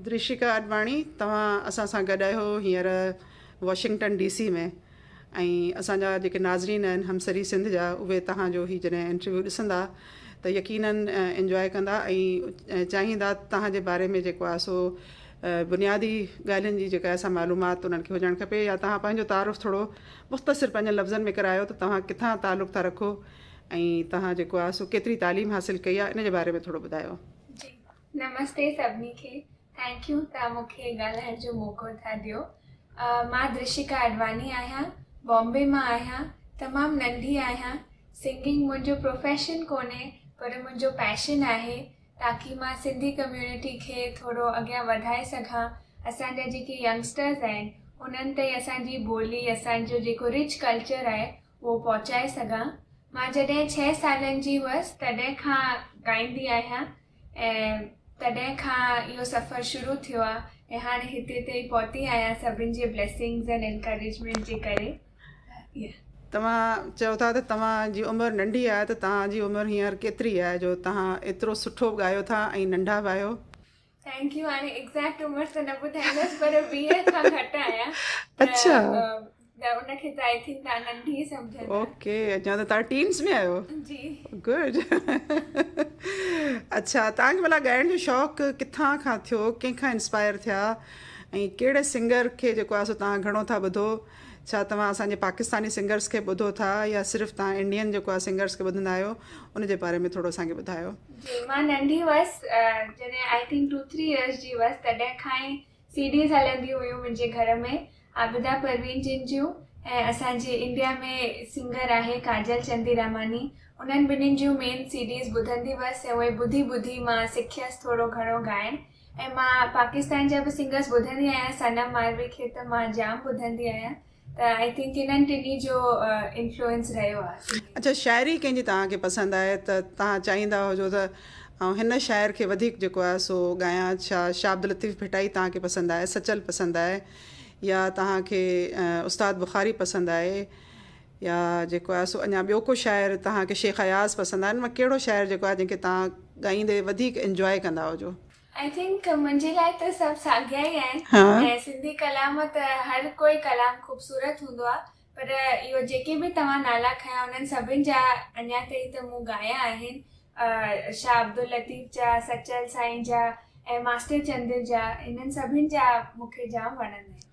درشيڪا آڏواڻي توهان اسان سان گڏ آهيو هينئر واشنگٽن ڊي سي ۾ ۽ اسان جا جيڪي ناظرين آهن همسري سنڌ جا اهي توهان جو هي جڏهن انٽرويو ڏسندا ته يقيناً انجواء ڪندا ۽ چاهيندا توهان جي باري ۾ جيڪو آهي سو بنيادي ڳالهين جي جيڪا اسان معلومات انهن کي هجڻ کپي يا توهان پنهنجو تعارف ٿورو مختصر پنهنجن لفظن ۾ ڪرايو ته توهان ڪٿان تعلق ٿا رکو ۽ توهان جيڪو آهي سو ڪيتري تعليم حاصل ڪئي آهي ان جي باري ۾ ٿورو ٻڌايو نمستي سڀني کي ٿينڪ يو توهان مون کي ڳالهائڻ جو موقعو ٿا ڏيو مان درشيڪا اڏواني آهيان بامبي مان آهيان تمام ننڍي آهيان سنگنگ منهنجو پروفيشن ڪونهي پر منهنجو پيشن آهي تاڪي مان سنڌي ڪميونٽي کي ٿورو اڳيان وڌائي سگهان اسان جا جيڪي ينگسٽرز آهن انهن تائين اسان جي ٻولي اسان جو جيڪو رچ ڪلچر آهي اهو پهچائي سگهان مان جڏهن ڇهه سالن جي هئس تڏهن کان ڳائيندي آهيان ۽ تڏهن کان اهو سفر شروع ٿيو آ ۽ هاڻي هتي تائين پهتي آهيان سڀن جي بليسنگز ۽ انڪريجمينٽ جي ڪري yeah. توهان چئو ٿا ته توهان جي عمر ننڍي آهي ته توهان جي عمر هينئر ڪيتري آهي جو توهان ايترو سٺو ڳايو ٿا ۽ ننڍا به آهيو. ٿينڪ يو هاڻي ايگزيڪٽ عمر ته نه ٻڌائيندس پر ويهه کان گهٽ آهيان ته اڇا. ته ان کي ته آئي ٿنڪ تان ننڍي سمجهندا اوڪي اڃا ته تان ٽينز ۾ آيو جي گڊ اچھا تان کي بلا ڳائڻ جو شوق ڪٿان کان ٿيو ڪنهن کان انسپائر ٿيا ۽ ڪهڙي سنگر کي جيڪو آسو تان گھڻو ٿا ٻڌو ڇا توهان اسان جي پاڪستاني سنگرز کي ٻڌو ٿا يا صرف تان انڊين جيڪو آ سنگرز کي ٻڌندا آهيو ان جي باري ۾ ٿورو اسان کي ٻڌايو جي مان ننڍي وس جڏهن آئي ٿنڪ 2 3 ايئرز جي وس تڏهن کان سي ڊيز هلنديون هيون منهنجي گهر ۾ عابده پروين جن جون ۽ اسان جي انڊيا ۾ سنگر آهي ڪاجل چنديراماني انهن ٻنهين جون مين سي ڊيز ٻڌندي هئس ۽ اهي ٻڌي ٻڌي مان سکيس ٿورو گهڻو ڳائڻ ۽ مان پاڪستان جا به سنگرس ٻڌندي آهيان صنم ماروي کي ته مان جام ٻڌندي آهيان ته آئي ٿنڪ انهن ٽنهي جو انفلوئنس رهيو آهي. اڇا شاعري ڪنهن جي توهان کي پسند آهي ته توهان چاهيندا هجو ته آئون هن شاعر کي وڌيڪ جيڪو آهي سو ڳايان ڇا شاهه عبداللطيف ڀٽائي توهان کي پسند آهي سچل پسند آهي يا توهان کي استاد بخاري پسند آهي يا جيڪو آهي سو اڃان ٻيو ڪو شاعر توهان کي شيخ اياز پسند آهي ان مان ڪهڙو شاعر جيڪو آهي جنهن کي توهان ڳائيندي وڌيڪ انجواء ڪندا هجو. آئي ٿنڪ منهنجي لاء ته سڀ ساڳيا ئي آهن ۽ سنڌي ڪلام ته هر ڪوئي ڪلام خوبصورت هوندو آهي پر اهو جيڪي به توهان نالا کنيا انهن سڀن جا اڃا تائين ته مون ڳايا آهن شاهه عبداللطيف جا سچل سائين جا ۽ ماسٽر چندر جا انهن سڀن جا مونکي جام وڻندا آهن.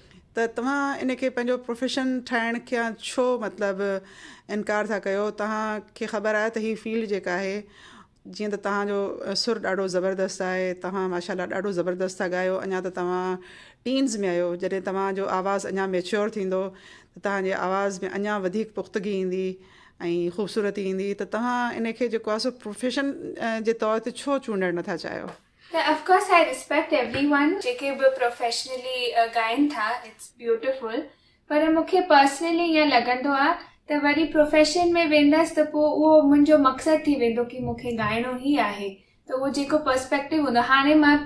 ته توهان ان کي پنهنجو پروفيشن ٺاهڻ کان ڇو مطلب انڪار ٿا ڪيو توهان کي خبر آهي ته هي فيلڊ جيڪا آهي جيئن ته توهان جو سر ڏاڍو زبردست آهي توهان ماشاء الله ڏاڍو زبردست ٿا ڳايو اڃا ته توهان ٽينز ۾ آهيو جڏهن توهان جو آواز اڃا ميچيور ٿيندو ته توهان جي آواز ۾ اڃا وڌيڪ پختگي ايندي ۽ خوبصورتي ايندي ته توهان ان کي جيڪو آهي سو پروفيشن جي طور تي ڇو چونڊڻ نٿا چاهيو ته of course I respect everyone جيڪي به پروفيشنلي ڳائين ٿا اٽس بيوٽيفل پر مون کي پرسنلي ائين لڳندو آ ته وري پروفيشن ۾ ويندس ته پو اهو منهنجو مقصد ٿي ويندو ڪي مون کي ڳائڻو ئي آهي ته اهو جيڪو پرسپيڪٽو هوندو هاڻي مان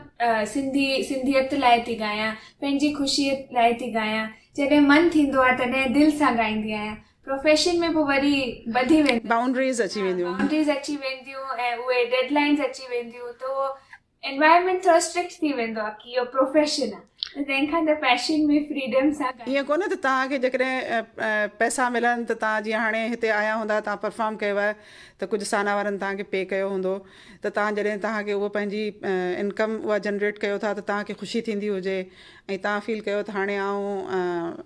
سنڌي سنڌيت لاء ٿي ڳايان پنهنجي خوشي لاء ٿي ڳايان جڏهن من ٿيندو آ تڏهن دل سان ڳائيندي آهيان پروفيشن ۾ به وري ٻڌي ويندو. بائونڊريز اچي وينديون. بائونڊريز اچي وينديون ۽ اهي ڊيڊ لائنز اچي وينديون ته اهو انوائرمينٽ ٿورو اسٽرڪٽ ٿي ويندو آهي ڪي اهو پروفيشن آهي ته تنهن کان ته پيشن ۾ فريڊم سان ڪم. ائين ڪونهي ته توهان کي جيڪڏهن پئسا ملن ته توهان جيئن هاڻي هتي آيا هوندا توهان پرفارم ڪيو آهي ته ڪجهه سانا وارن توهان کي پي ڪيو هوندو ته توهان جڏهن توهان کي اهو پنهنجي انڪم اها جنريٽ ڪيو ٿا ته توهان کي خوشي ٿيندي هجي ۽ توهان فيل ڪيو ته هاڻي آئون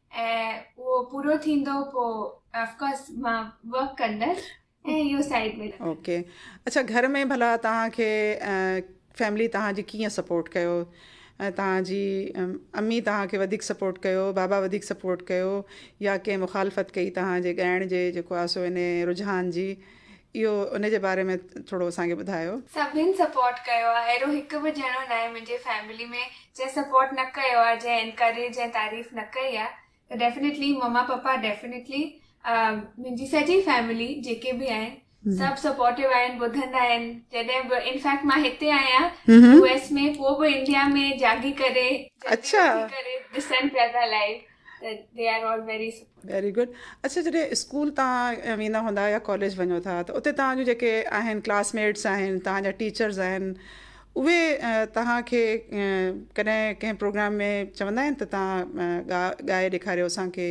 ۽ اهو پورو ٿيندو پوء اف ڪورس مان ورڪ ڪندس ۽ اهو سائيڊ ۾ رکندس اوڪي اڇا گهر ۾ ڀلا توهان کي فيملي توهان جي ڪيئن سپورٽ ڪيو توهان جي امي توهان کي وڌيڪ سپورٽ ڪيو بابا وڌيڪ سپورٽ ڪيو يا ڪنهن مخالفت ڪئي توهان جي ڳائڻ جي جيڪو آسو هن رجحان جي اهو ان جي باري ۾ ٿورو اسان کي ٻڌايو. سڀني سپورٽ ڪيو آ اهڙو هڪ به ڄڻو ناهي منهنجي فيملي ۾ جنهن سپورٽ نه ڪيو آ جنهن انڪريج ۽ تعريف نه ڪئي آ ته ڊيفنيٽلي مما پپا ڊيفنيٽلي منهنجي سڄي فيملي جيڪي به آهن سڀ سپورٽو آهن ٻڌندا آهن جڏهن به ان فيڪٽ مان هتي آهيان يو ايس ۾ پوء به انڊيا ۾ جاڳي ڪري جلدي اٿي ڪري ڏسن پيا ڳالهائي They are all very supportive. Very good. اڇا جڏهن اسڪول تان ويندا هوندا يا ڪاليج وڃو ٿا ته اتي تان جون جيڪي آهن ڪلاس ميٽس آهن تان جا ٽيچرز آهن اهي تان کي ڪڏهن ڪنهن پروگرام ۾ چوندا آهن ته تان ڳائي ڏيکاريو اسان کي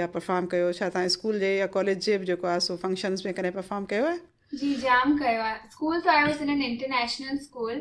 يا پرفارم ڪيو ڇا تان اسڪول جي يا ڪاليج جي به جيڪو آهي سو فنڪشنز ۾ ڪڏهن پرفارم ڪيو آهي جي جام ڪيو آهي اسڪول ته آيو سنن انٽرنيشنل اسڪول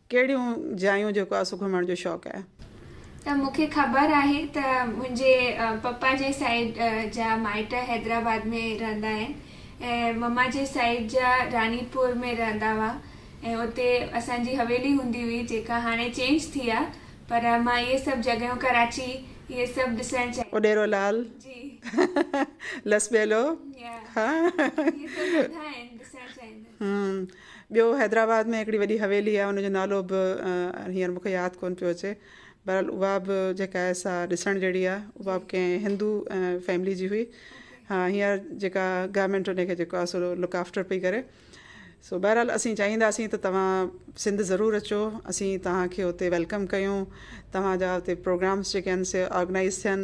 ڪهڙيون جايون جيڪو آسو گهمڻ جو شوق آهي؟ ته مون کي خبر آهي ته منهنجي پپا جي سائيڊ جا مائٽ حيدرآباد ۾ رهندا آهن ۽ مما جي سائيڊ جا راڻي پور ۾ رهندا هئا ۽ اتي اسان جي حويلي هوندي هئي جيڪا هاڻي چينج ٿي آهي پر مان اهي سڀ جڳهيون ڪراچي اهي سڀ ڏسڻ چاهيان اڏيرو لال جي لسٻيلو يا اهي سڀ هوندا آهن ڏسڻ چاهيندس. ٻيو حيدرآباد ۾ هڪڙي وڏي حويلي آهي ان جو نالو به هينئر مون کي ياد ڪونه پيو اچي بهرحال اها به جيڪا آهي سا ڏسڻ جهڙي آهي اها به ڪنهن هندو فيملي جي هئي ها هينئر جيڪا گورمينٽ ان کي جيڪو آهي سو لڪ آفٽر پئي ڪري سو بهرحال اسين چاهينداسين ته توهان سنڌ ضرور اچو اسين توهان کي اتي ويلڪم ڪيون توهان جا اتي پروگرامس جيڪي آهن سي آرگنائز ٿين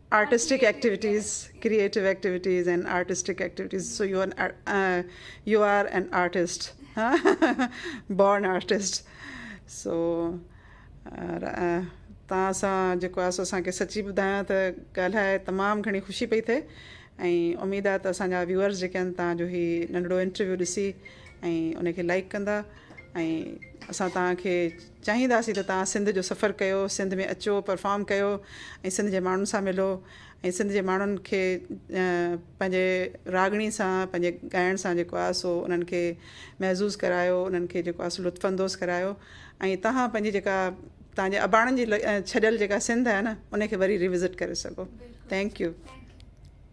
artistic activities, creative activities and artistic activities so you you are an artist born artist so تان سان جيڪو آ سو اسان کي سچي ٻڌايان ته ڳالهائي تمام گهڻي خوشي پئي ٿئي ۽ اميد آ ته اسان جا ويوئرز جيڪي آهن تان جو هي ننڍڙو انٽرويو ڏسي ۽ ان کي لائڪ ڪندا ۽ اسان تان کي چاهينداسين ته توهان سنڌ جو سفر ڪيو، سنڌ ۾ اچو، پرفارم ڪيو ۽ سنڌ جي ماڻهن سان ملو ۽ سنڌ جي ماڻهن کي پنهنجي راڳڻي سان پنهنجي ڳائڻ سان جيڪو آهي سو انهن کي محظوظ ڪرايو، انهن کي جيڪو آهي سو لطف اندوز ڪرايو ۽ توهان پنهنجي جيڪا توهان جي اباڻن جي ڇڏيل جيڪا سنڌ آهي نه ان کي وري ريوزٽ ڪري سگهو. Thank U.